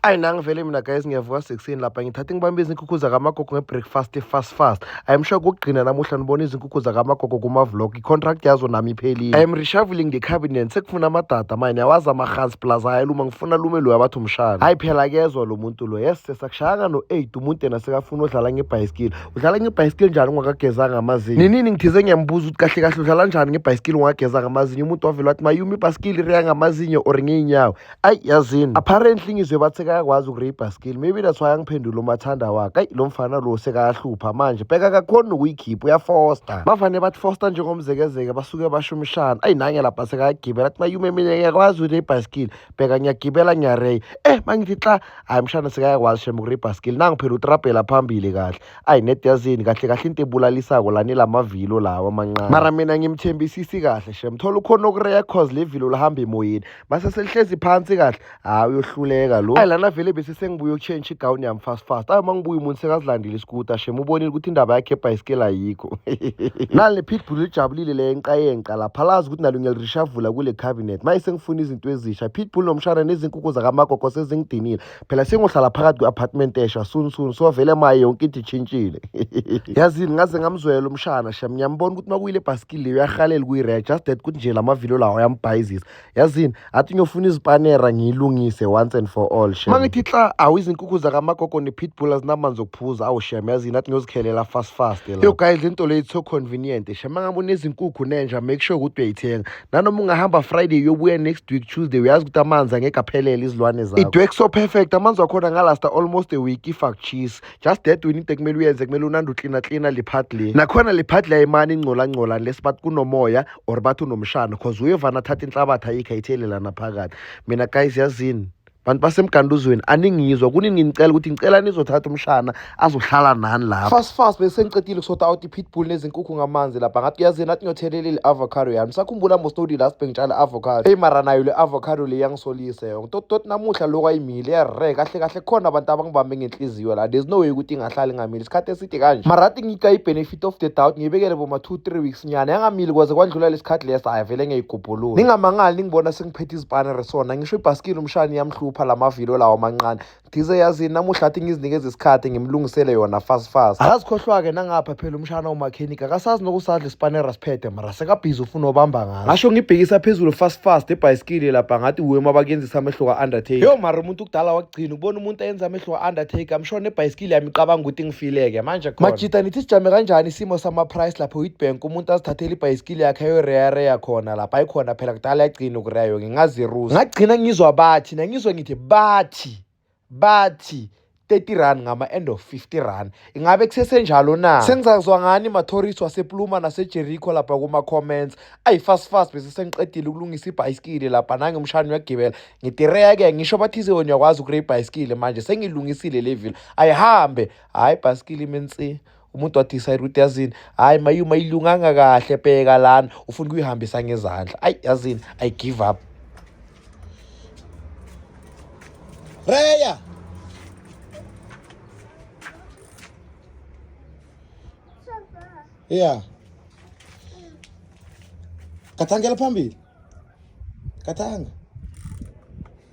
ayi nangivele mina guys ngiyavuka sekuseni lapha ngithatha ngibambe izinkukhu zakamagogo ngebreakfast fast fast i'm sure kugcina namuhla nibona izinkukhu zakamagogo kuma-vlog i-contract yazo nami iphelile i'm reshuffling the cabinet sekufuna amadada mine awazi amahansi plus ayaluma ngifuna lume loyo abathi umshana hayi phela kezwa lo muntu lo yes sesakushayanga no-eight umuntu yena sekafuna udlala ngebhayisikili udlala ngebhayisikili njani ungakagezanga amazinyo ninini ngithize ngiyambuza ukuthi kahle kahle udlala njani ngebhayisikili ungakagezanga amazinyo umuntu wavele wathi mayumi ibhayisikili riya ngamazinyo or ngiyinyawo ayi yazini apparently ngizwe bathi sekayakwazi ukuribha skill maybe that's why angiphendula umathanda wakhe ayi lo mfana lo sekayahlupha manje bheka kakhona nokuyikhipha uyafosta bavane bathi fosta njengomzekezeke basuke basho umshana ayi nange lapha sekayagibela athi mayume mina ngiyakwazi ukuribha skill bheka ngiyagibela ngiyareya eh mangithi xa hayi mshana sekayakwazi shem ukuribha skill nangu phela utrabhela phambili kahle ayi net yazini kahle kahle into ebulalisako lani lamavilo lawa amancane mara mina ngimthembisisi kahle shem thola ukhona ukureya cause le vilo lihamba emoyeni mase selihlezi phansi kahle hayi uyohluleka lo hayi lana vele bese sengibuye ukutshentsha igawuni yami fast fast ayo uma ngibuye umuntu sekazilandile isikuta shem ubonile ukuthi indaba yakhe ebhayisikeli ayikho nali le pitbull lijabulile le yenqa yenqa lapha lazi ukuthi nalo ngiyalirishavula kule cabinet maye sengifuna izinto ezisha pitbull nomshana nezinkukhu zakamagogo sezingidinile phela sengohlala phakathi kwe-apartment esha soon soon so vele maye yonke into itshintshile yazini ngaze ngamzwela umshana sha ngiyambona ukuthi makuyile ebhasikili leyo uyahalela kuyi-red just that ukuthi nje la mavilo lawo ayambhayizisa yazini athi ngiyofuna izipanera ngiyilungise once and for all shem mangithi xa awu izinkukhu zakamagogo ne-pitbull azinamanzi okuphuza awu shem yazini athi ngiyozikhelela fast fast yo guys into leyo so convenient shem mangabe unezinkukhu nenja make sure ukuthi uyayithenga nanoma ungahamba friday uyobuya next week tuesday uyazi ukuthi amanzi angeke aphelele izilwane zakho idwek so perfect amanzi wakhona ngalasta almost a week if akuchisi just that wini into kumele uyenze kumele unande uklina klina liphadle nakhona liphadle ayimani ingcolangcola unless bathi kunomoya or bathi unomshana cause uyevana athatha inhlabathi ayikho ayithelelana phakathi mina guys yazini bantu basemganduzweni aningizwa kunini nginicela ukuthi ngicela nizothatha umshana azohlala nani lapho fast fast bese ngicedile kusota out i-pitbull nezinkukhu ngamanzi lapha ngathi uyazini athi ngiyothelele le-avocado yami sakhumbula mostodi last bengitshala i-avocado eyi mara nayo le-avocado le yangisolise yonke tototi namuhla lokhu ayimile yare kahle kahle khona abantu abangibambe ngenhliziyo la there's no way ukuthi ingahlali ngamile isikhathi eside kanje mara athi ngika i-benefit of the doubt ngiyibekele boma two three weeks nyana yangamili kwaze kwandlula lesikhathi lesa ayivele ngiyayigubhulula ningamangali ningibona phethe izipanere sona ngisho ibhasikili umshani yamhlupha la mavilo lawo amancane ndize yazini namuhla athi ngizinikeza isikhathi ngimlungisele yona fast fast akazikhohlwa-ke nangapha phela umshana umakhenika akasazi nokusadla isipanera siphethe mara sekabhizi ufuna obamba ngaso ngasho ngibhekisa phezulu fast fast ebhayisikili lapha ngathi wuwe mabakenzisa amehlo ka-undertaker yo mara umuntu kudala wakugcina ukubona umuntu ayenza amehlo ka-undertaker msho nebhayisikili yami icabanga ukuthi ngifileke manje khona majita nithi sijame kanjani isimo sama-price lapho witbank umuntu azithathele ibhayisikili impilo yakhe ayoreyareya khona lapha ayikhona phela kudala yagcina ukureya yoke ngaziruza ngagcina ngizwa bathi nangizwa ngithi bathi bathi 30 rand ngama-end of 50 rand ingabe kusesenjalo na sengizazwa ngani mathourist wasepluma nasejericho lapha kuma-comments ayi-fast fast bese sengiqedile ukulungisa ibhayisikili lapha nangimshani uyagibela ngitireya-ke ngisho bathize wena uyakwazi ukure ibhayisikili manje sengilungisile le vile ayihambe hhayi ibhayisikili imensi umuntu wadecide ukuthi yazini hhayi mayuma ilunganga kahle bheka lana ufuna ukuyihambisa ngezandla ayi yazini i give up reya ya kathangela phambili kathanga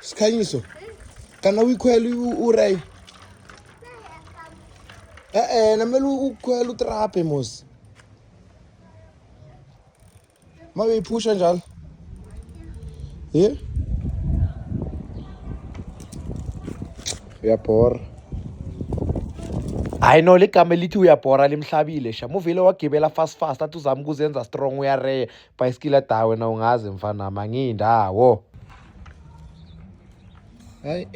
sikhanyiso kana uyikhwela uray e-e namele ukhwela utrape mos ma uyiphusha njalo ye yeah. uyabhora hayi no ligama elithi uyabhora limhlabile sha muvele wagibela fast fast athi uzama ukuzenza strong uyareya Bhayisikili ada wena ungazi mfana mangiyindawo. Hayi.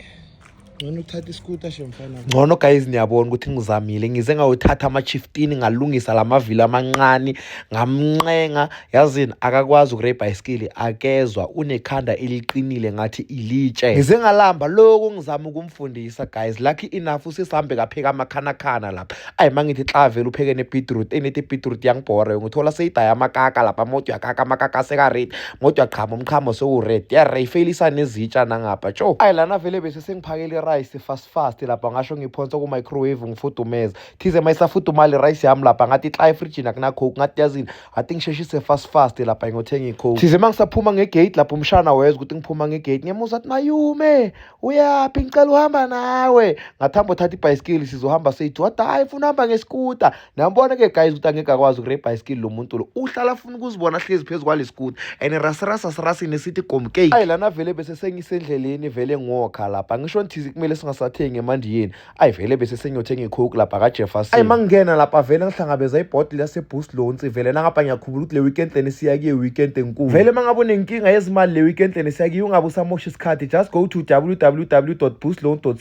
Ngcono uthatha iskuta she mfana. Ngcono guys niyabona ukuthi ngizamile ngize ngawuthatha ama 15 ngalungisa lamavili amancane ngamnqenga yazini akakwazi ukure bicycle akezwa unekhanda eliqinile ngathi ilitshe. Ngize ngalamba lokho ngizama ukum fundisa guys lucky enough usesambe kapheka amakhanakhana lapha ayi mangithi xa vele upheke nebeetroot enithi ibeetroot yangibhore ngithola seyidaya amakaka lapha moto yakaka amakaka aseka-red moto yaqhama umqhamo sewu-red yareyfelisa nezitsha nangapha tsho ayi lana vele bese sengiphakele irayisi fast fast lapha ngasho ngiphonsa ku-microwave ngifudumeza thize ma isafudumala irayisi yami lapha ngathi xa efrijini akunacoke ngathi yazini ngathi ngisheshise fast fast lapha ngiyothenga icoke thize ma ngisaphuma ngegate lapha umshana wezwa ukuthi ngiphuma ngegate ngiyamuza athi mayume uyaphi ngicela uhamba nawe ngathi hamba uthatha ibhayisikili sizohamba seyithi wathi hhayi funa uhamba ngesikuta nambona ke guys ukuthi angeke akwazi ukure ibhayisikili lo muntu lo uhlala afuna ukuzibona ahlezi phezu kwale sikuta and rasirasa sirasini esithi gomkei ayi lana vele bese sengisendleleni vele ngokha lapha ngisho nthizi kumele singasathengi emandiyeni ayi vele bese senyothe ngikhuk lapha kajefferson ayi mangingena lapha vele ngihlangabeza ibhodi lasebus lonsi vele nangapha ngiyakhubula ukuthi le weekend leni siya kuye weekend enkulu vele uma ngabe unenkinga yezimali le weekend leni siya kuye ungabe usamosha isikhathi just go to www busloan co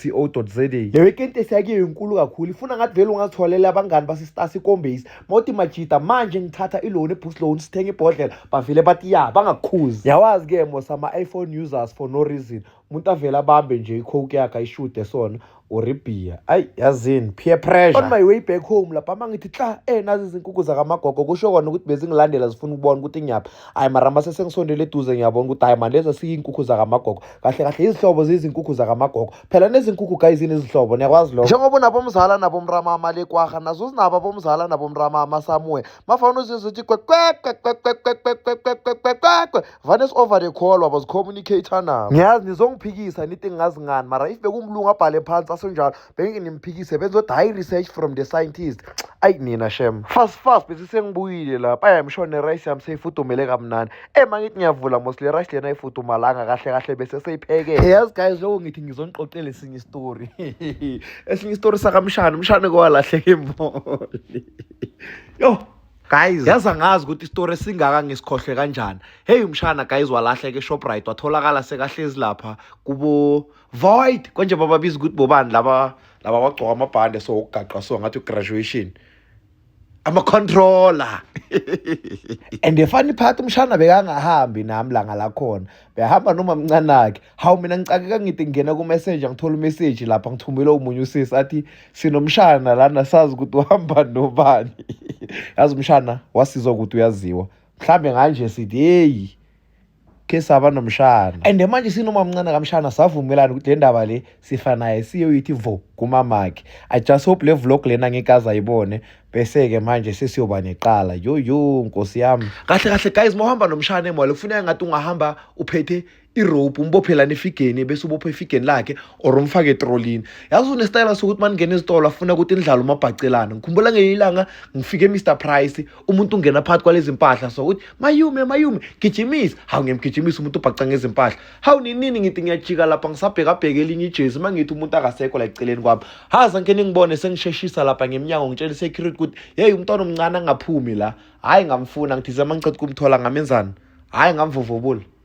za le weekend esiya kuye inkulu kakhulu ifuna ngathi vele ungazitholela abangani basistasi ikombase mawuthi majida manje ngithatha iloni ebus loan sithenga ibhodlela bavele bathi ya bangakukhuzi yawazi-ke mos ama-iphone users for no reason umuntu avele abambe nje icoke yakhe ayishude sona or ibhiya ayi yazini peer pressure on my way back home lapha uma ngithi hla eh nazi izinkukhu zakamagogo kusho kona ukuthi bezingilandela zifuna ukubona ukuthi ngiyaphi ayi mara mase sengisondele eduze ngiyabona ukuthi hayi manje lezi siyinkukhu zakamagogo kahle kahle izihlobo ziyizinkukhu zakamagogo phela nezinkukhu guys zinezihlobo niyakwazi lokho njengoba unabomzala nabomramama lekwaha nazo zinabo abomzala nabomramama somewhere mafana uzizo uthi vane si-over the call wabo zicommunicator nabo ngiyazi nizongiphikisa nithi ngazi ngani mara if bekumlungu abhale phansi asenjalo bengike nimphikise benzodwa high research from the scientist ayi nina shem fast fast bese sengibuyile lapha ayamsho nerice yami seyifudumele kamnandi e mangithi ngiyavula mos le rice lena ifudumalanga kahle kahle bese seyiphekele yazi guys lokho ngithi ngizoniqoqela esinye istory esinye istory sakamshana umshana kowalahleka embole yo guys yazi angazi ukuthi isitori esingaka ngisikhohlwe kanjani heyi umshana guys walahleke eshoprite watholakala sekahlezi lapha kubo void konje bababiza ukuthi bobani laba laba bagcoka amabhande so ukugaqa so ngathi ugraduation ama-controller and the funny part umshana bekangahambi nami langa lakhona behamba noma mncanakhe hawu mina ngicakeka ngithi ngingena kumessenger ngithola umessage lapha ngithumele omunye usisi athi sinomshana lana sazi ukuthi uhamba nobani yazi umshana wasizwa ukuthi uyaziwa mhlawumbe nganje sithi heyi khe saba nomshana and manje sinomamncane kamshana savumelana ukuthi le ndaba le sifa naye siyoyithi vo kumamakhe i just hope le vlog lena ngeke azayibone bese-ke manje sesiyoba neqala yoyo nkosi yami kahle kahle guys mawuhamba nomshana emole kufuneka ngathi ungahamba uphethe irope umbophelane efigeni bese ubopha efigeni lakhe or umfake etrolini yazi unesitayela sokuthi uma ningena ezitolo afuna ukuthi nidlale umabhacelana ngikhumbula ngelinye ilanga ngifike emr price umuntu ungena phakathi kwalezi mpahla so ukuthi mayume mayume gijimisa hawu ngiyamgijimisa umuntu ubhaca ngezimpahla hawu ninini ngithi ngiyajika lapha ngisabhekabheke elinye ijezi uma ngithi umuntu akasekho la eceleni kwami haza ngike ningibone sengisheshisa lapha ngemnyango ngitshela isecurity ukuthi yeyi umntwana omncane angaphumi la hhayi ngamfuna ngithize uma ngiqeda ukumthola ngamenzani hhayi ngamvuvubula